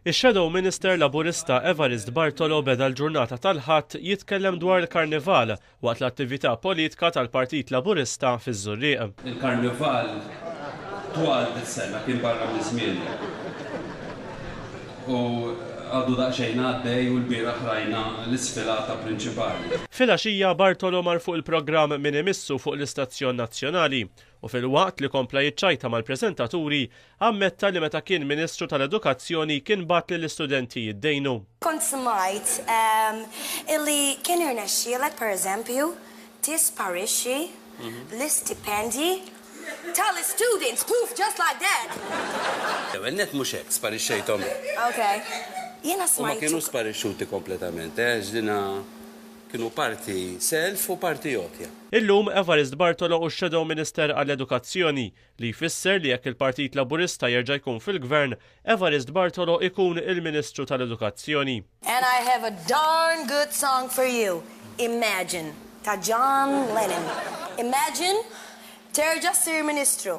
Ix-Shadow Minister Laburista Evarist Bartolo beda l-ġurnata tal-Ħadd jitkellem dwar il-Karnival waqt l-attività politka tal-Partit Laburista fiż-Żurrieq. Il-Karnival twal dis-sena kien barra minn żmienu u għadu daqsxejn għaddej u lbieraħ rajna l-isfilata prinċipali. Filgħaxija Bartolo mar fuq il-programm Min Imissu fuq l-istazzjon nazzjonali u filwaqt li kompla jiċċajta mal-preżentaturi, ammetta li meta kien Ministru tal-Edukazzjoni kien bagħat lill-istudenti jiddejnu. Kont smajt illi kien irnexxielek pereżempju tisparixxi l-istipendji tal-istudents, poof, just like that! L-ewwel nett mhux hekk, sparixxejthom. Ok. Jiena smajt. Huma kienu sparixxuti kompletament, għax dina Kienu parti self u parti għotja. Illum, Evarist Bartolo hu x-Shadow Minister għall-Edukazzjoni, li jfisser li jekk il-Partit Laburista jerġa' jkun fil-Gvern, Evarist Bartolo jkun il-Ministru tal-Edukazzjoni. And I have a darn good song for you, Imagine ta' John Lennon. Imagine terġa' ssir Ministru.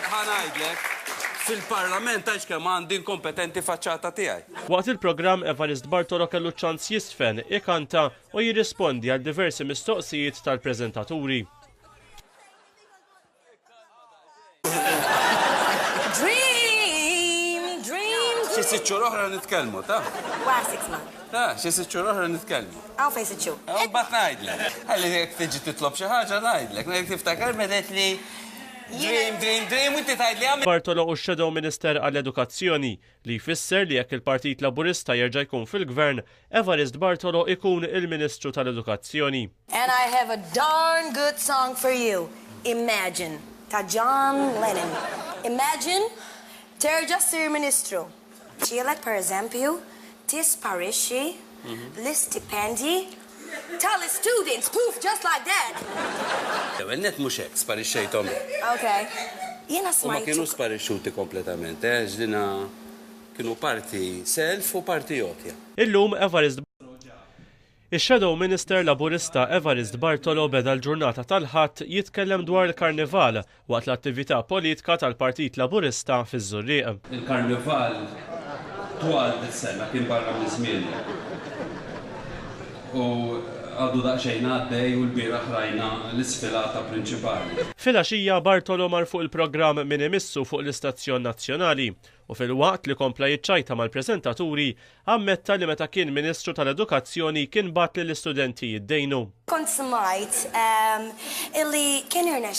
Ħa ngħidlek, fil-Parlament għax kemm għandi inkompetenti faċċata tiegħi. Waqt il-programm Evarist Bartolo kellu ċ-ċans jistfen, ikanta u jirrispondi għal diversi mistoqsijiet tal-preżentaturi. sitt xhur oħra nitkellmu, ta? Wa six months. Ta, xi sitt xhur oħra nitkellmu. Aw fejn sitt xhur. Imbagħad ngħidlek. Għalli jekk tiġi titlob xi ħaġa ngħidlek, ngħid tiftakar medet li Dream, dream, dream, u inti tgħid li għamilt. Bartolo u Shadow Minister għall-Edukazzjoni, li jfisser li jekk il-Partit Laburista jerġa' jkun fil-Gvern, Evarist Bartolo jkun il-Ministru tal-Edukazzjoni. And I have a darn good song for you, Imagine, ta' John Lennon. Imagine terġa' ssir Ministru. Tielet pereżempju, tisparixxi l-istipendji tal-istudents! Poof! Just like that! L-ewwel nett mhux hekk, sparixxejthom hekk. Ok. Jiena smajt. U ma kienux sparixxuti kompletament, għax dina kienu parti self u parti għotja. Illum Evarist Botto ġab Ix-Shadow Minister Laburista Evarist Bartolo beda l-ġurnata tal-Ħadd jitkellem dwar il-Karnival waqt l-attività politka tal-Partit Laburista fiż-Żurrieq. Il-Karnival twal dis-sena, kien barra minn żmienu u għadu daqsxejn għaddej u lbieraħ rajna l-isfilata prinċipali. Filgħaxija Bartolo mar fuq il-programm Min Imissu fuq l-istazzjon nazzjonali u filwaqt li kompla jiċċajta mal-preżentaturi, ammetta li meta kien Ministru tal-Edukazzjoni kien bagħat lill-istudenti jiddejnu. Kont smajt illi kien irnexxielu